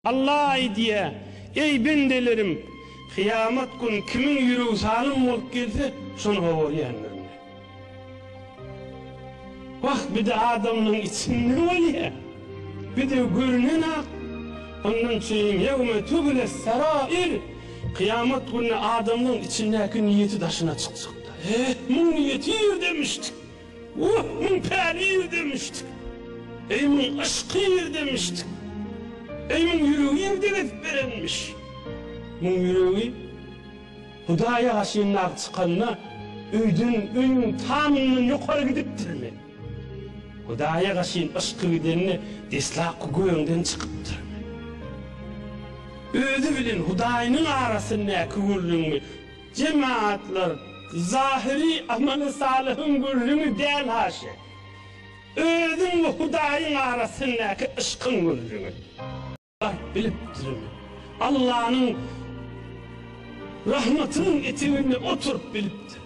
Alla aýdýa, Eý, bendelerim! Kyýamat gün kimiň ýüregi salym bolup gelse, şony gowarýandyr Men. Wah, bide adamlaň içinde bolýa. Bide görünen-ak. Ondan çeýin Ýewme tübüles serair, Kyýamat güni adamlaň içindäki niýeti daşyna çykjak-da. Eeh, muň niýeti ýerdemişdi. Wah, muň päli irdemişd! Eý, muň yşky irdemişd! Eý, muň ýüregi irde gezip berenmiş! Muň ýüregi Hudaýa garşy ymlap çykanda, öýden, öýüň tamyndan ýokary gidipdirmi? Hudaýa garşyn yşky gidende, deslapky göwüňden çykypdyrmy? Özi bilen Hudaýynyň arasyndaky gürrüňmi? Jemaatlar zahyry amaly salyhyň gürrüňi däl haşa. Özüň we Hudaýyň arasyndaky yşkyň gürrüňi. Bark bilipdirin. Allanyň Rahmatynyň eteginde oturyp bilipdirin.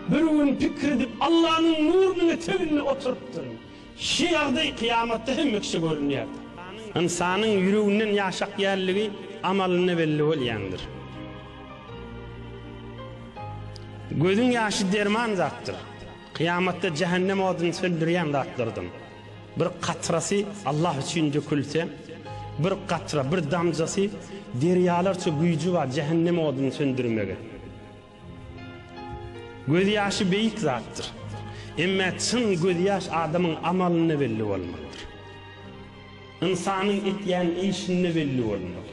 Bir gün pikir edip Allanyň nurunyň eteginde oturypdyryn. Şu ýagdaý kyýamatda hemme kişä görünýär. Ynsanyň ýüreginden ýaşak ýerligi amalynda belli bolýandyr. Gözüň ýaşy derman zatdyr. Kyýamatda jähennem oduny söndürýän zatlardan bir katrasy Allah üçin dökülse, bir katra, bir damjasy derýalarça güýji bar jähennem oduny söndürmege. Gözýaşy beýik zatdyr. Emma çyn gözýaş adamyň amalynda belli bolmalydyr. Ynsanyň etýän işinde belli bolmaly.